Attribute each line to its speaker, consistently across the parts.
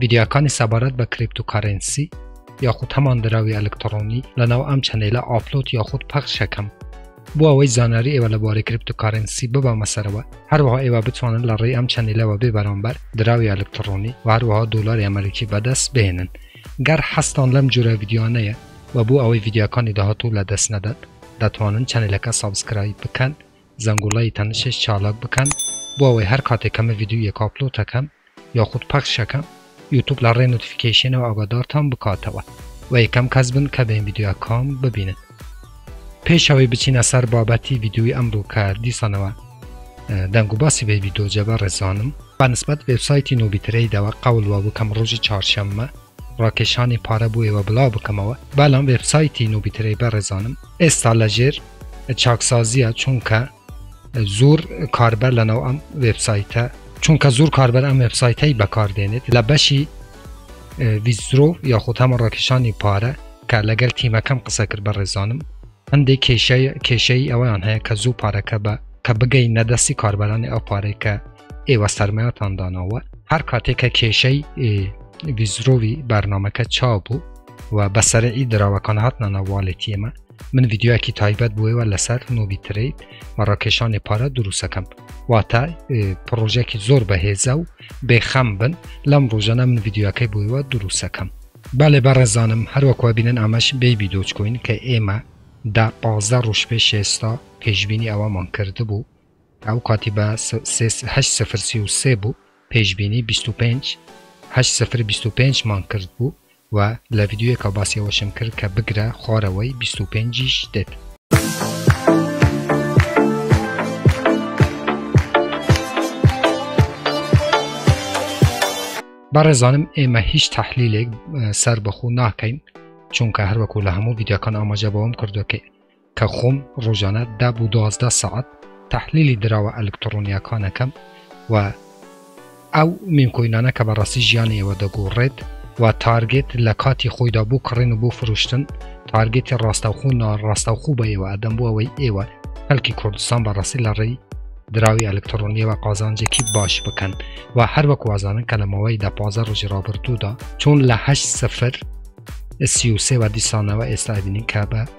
Speaker 1: ڤیدیاکانی سەبارەت بە کریپتوکارنسی یاخود هەمان دراوی ئەلکترۆنی لەناو ئەم چەنەیلە ئاپلۆت یاخود پەخشەکەم بۆ ئەوەی زانیاری ئێوە لە بارەی کریپتوکارنسی ببەمە سەرەوە هەروەها ئێوە بتوانن لە ڕێی ئەم چەنەیلەوە بێ بەرامبەر دراوی ئەلکترۆنی و هەروەها دۆلاری ئەمریکی بەدەست بهێنن گەر حەستان لەم جورە ڤیددیوانەیە و بۆ ئەوەی ڤیددیوکانی داهاتوو لە دەست نەدەن دەتوانن چەنەلەکە سابسکرایب بکەن زەنگوڵەی تەنشش چالاک بکەن بۆ ئەوەی هەر کاتێک کەمە ڤیددیو یەک ئاپلۆتەکەم یاخود پەخشەکە یوتوب لە ڕێ نوتفیکەیشێنەوە ئاگادارتان بکاتەوە و یەکەم کەس بن کە بێن ڤیدیۆکان ببینن پێشەوەی بچینە سەر بابەتی ڤیددیوی ئەمڕوو کە دیسانەوە دەنگ و باسی بەیبی دۆجە بە ڕێزانم بەنسبەت وێبسایتی نۆبیترەیدەوە قەولوە بکەم ڕۆژی چارشەممە ڕاکێشانی پارە بۆ ئێوە بڵاو بکەمەوە بەڵام وێبسایتی نۆبیترەی بە ڕێزانم ئێستا لە ژێر چاکسازیە چونکە زور کاربەر لەناو ئەم وێبسایتە چونکە زور کاربەر ئەم وێبسایتەی بەکاردێنێت لە بەشی ویزرۆ یاخود هەمە ڕاکیشانی پارە کە لەگەل تیمەکەم قسە کرد بە ڕێزانم هەندێک کێشەی کێشەی ئەویان هەیە کە زوو پارەکە بە کە بگەی نەدەستی کاربەرانی ئەو پارەی کە ئێوە سەرمایتان داناوە هەر کاتێکە کێشەی ویزرۆوی بەرنمەکە چاو بوو و بەسەرعی دراوەکان هاتنە ناوواڵێتی ئمە من ڤیددیوکی تایبەت بووەوە لەسەر نوبی تریت و ڕاکێشانی پارە دروستەکەم واتە پرۆژێکی زۆر بەهێزە و بێخەم بن لەم ڕۆژەنە من ڤیددیوەکەی بووەوە دروستەکەم بالێ بەڕێزانم هەروەکوە بینن ئامەش بەیبی دۆچکۆین کە ئێمە دا پازدە ڕوش پێ شێستا پێشببینی ئەوەمان کرد بوو ئەو کاتی بە هەشت سفر سی و سێ بوو پێشبینی بیست و پێنج هەشت سفر بیست و پێنج مان کرد بوو و لە ڤیدیۆیەکا باسی ئەوەشم کرد کە بگرە خوارەوەی بیست و پێنجیش دێت. بەڕێزانم ئێمە هیچ تحلیلێک سەر بەخۆ ناکەین چونکە هەروەکو لە هەموو ڤیددیوکان ئاماژە بەوەم کردوکەی کە خۆم ڕۆژانە دە بۆ دوازدە سەعات تەحلیلی دراوە ئەلکتڕۆنیاکانەکەم و ئەو مینکۆینانە کە بەڕاستی ژیانی ئێوە دەگۆڕێت و تارگێت لە کاتی خۆیدا بۆ کڕین و بۆ فرۆشتن تارگێتی ڕاستەوخۆ ناڕاستەوخۆ بە ئێوە ئەدەم بۆ ئەوەی ئێوە خەلکی کوردستان بەڕاستی لە ڕێی دراوی ئەلکترۆنیەوە قازانجێکی باش بکەن و هەر وەک وازانن کە لە ماوەی دە پازە ڕژی ڕابردوودا چۆن لە هەشت سفر سیوسێوە دیسانەوە ئێستا بینین کە بە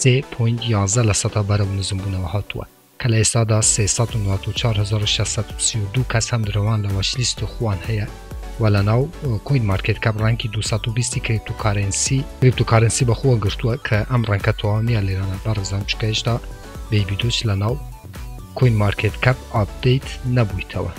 Speaker 1: سێ پۆینت یازدە لە سەدا بەرەو نزمبوونەوە هاتووە کە لە ئێستادا سێ سەد و نۆزدە و چوار هەزار و شەش سەد و سی و دوو کەس هەم درەوان لە وەچلیست و خوان هەیە و لە ناو کوین مارکێت کەپ ڕەنکی 220 کریپتوکارنسی کریپتوکارنسی بەخۆوە گرتووە کە ئەم ڕەنکە تەواو نییە لێرانە بەڕزان چکە هێشتا بەیبیدۆچ لە ناو کوین مارکێت کەپ ئاپدەیت نەبوویتەوە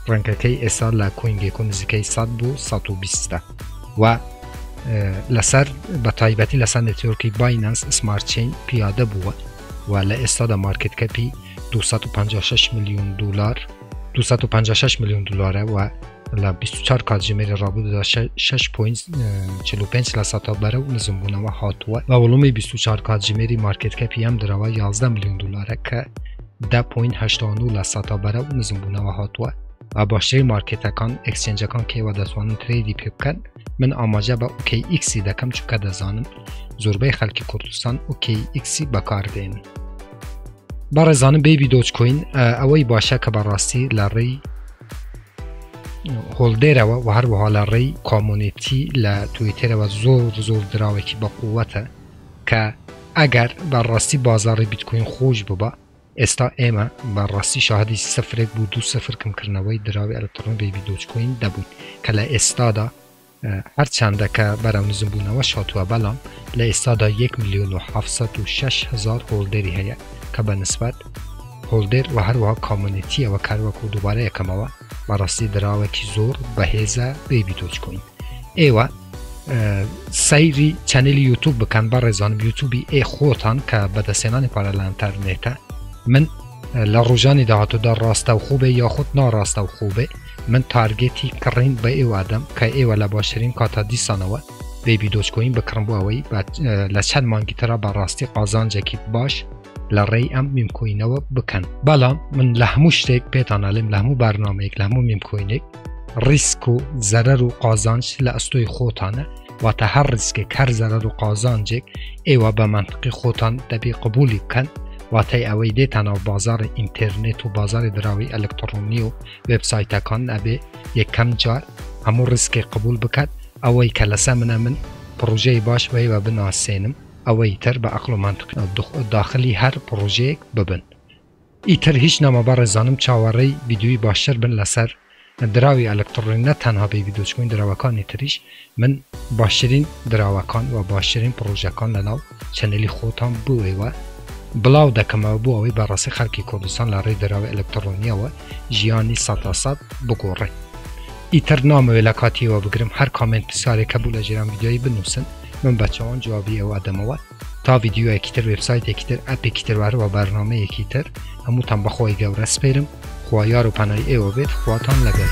Speaker 1: ڕەنکەکەی ئێسا لە کۆین گێکۆ نزیکەی 100 بوو 120 و لەسەر بە تایبەتی لەسەر نێتۆرکی باینەنس سمارتچین پیادە بووە و لە ئێستادا مارکت کەپی 256 میلیون دلار 256 میلیون دلارە و لە 24 کاتژمێری ڕابوودا 6.45 لە سەتا بەرە و نزمبوونەوە هاتووە بە وڵومی 24 کاتژمێری مارکت کەپی ئەم درەوە 11 میلیون دلارە کە دە پۆینت هەشتا و نۆ لە سەتا بەرەو نزمبوونەوە هاتووە و باشترین مارکێتەکان ئەکسچێنجەکان کەیوە دەتوانن ترێدی پێ بکەن من ئاماژە بە ئۆکەی ئیکسی دەکەم چونکە دەزانم زۆربەی خەڵکی کوردستان ئۆکەی ئیکسی بەکاردێن بەڕێزانم بێبی دۆچکۆین ئەوەی باشە کە بەڕاستی لە ڕێی هۆڵدێرەوە و هەروەها لە ڕێی کۆمۆنێتی لە تویتێرەوە زۆر زۆر دراوێکی بەقووەتە کە ئەگەر بە ڕاستی بازاڕی بیتکۆین خۆش بوبا ئێستا ئێمە بە ڕاستی شاهدی سفرێک بو دوو سفر کم کردنەوەی دراوی ئەلکتڕۆنی بەیبی دۆج کۆین دەبوین کە لە ئێستادا هەر چەندە کە بەرەو نزم بونەوەش هاتوە بەڵام لە ئێستادا یەک ملیۆن و حەڤت سەد و شەش هەزار هۆڵدەری هەیە کە بە نسبەت هۆڵدێر و هەروەها کامۆنێتیەوە کار وەکو دوبارە یەکەمەوە بە ڕاستی دراوێکی زۆر بەهێزە بەیبی دۆج کۆین ئێوە سەیری چەنلی یوتوب بکەن بە ڕێزان یوتوبی ئێ خۆتان کە بەدەسێنانی پارەلانتەرنێتە من لە ڕژانی داهاتوودا ڕاستە و خوبێ یاخود ناڕاستە و خوبێ من تارگێتی کڕین بە ئێوادەم کە ئێوە لە باشترین کاتا دیسانەوە بێبی دۆچکۆین بکڕم بۆ ئەوەی لە چەند مانگی تررا بەڕاستی قازانجێکی باش لە ڕێی ئەم میمکۆینەوە بکەن بەڵام من لە هەموو شتێک پێتانناڵێم لە هەموو بارنامەیەک لە هەموو میمکۆینێک ڕیسک و زەرەر و قازانج لە ئەستۆی خۆتانە واتە هەر ڕیسکێک هەر زەرەر و قازانجێک ئێوە بە منطقی خۆتان دەبی قبولی بکەن واتای ئەوەی دێتانەوە بازاری ئینتەرنێت و بازاری دراوی ئەلکترۆنی و وبسایتەکان ئەبێ یەکەم جار هەموو ڕیسکێک قبول بکات ئەوەی کە لەسە منە من پرۆژەی باش بەیوە بناسێنم ئەوەی تر بە ئەقڵ و مەنتق نیە داخلی هەر پڕۆژەیەک ببن ئیتر هیچ نەما بەڕێزانم چاوەڕێی ڤیدیۆی باشتر بن لەسەر دراوی ئەلکتڕۆنی نە تەنها بەیبی دۆج کۆین دراوەکانی تریش من باشترین دراوەکان و باشترین پڕۆژەکان لەناو چەنێلی خۆتان بۆ ئێوە بڵاو دەکەمەوە بۆ ئەوەی بەڕاستی خەڵکی کوردستان لە ڕێی دراوی ئەلکتڕۆنیەوە ژیانی سەتا سەد بگۆڕێ ئیتر نامەوێ لە کاتیەوە بگرم هەر کامێنت پرسیارێک هەبوو لە ژێرم ڤیدیۆی بنووسن من بە چۆن جوابی ئەوە دەمەوە تا ڤیددیوەکی تر وبسایتێکی تر ئەپێکی تروارەوە بەرنمەیەکی تر هەمووتان بەخۆی گەورە سپێرم خوا یار و پەنای ئێوە بێت خواتان لەگەر.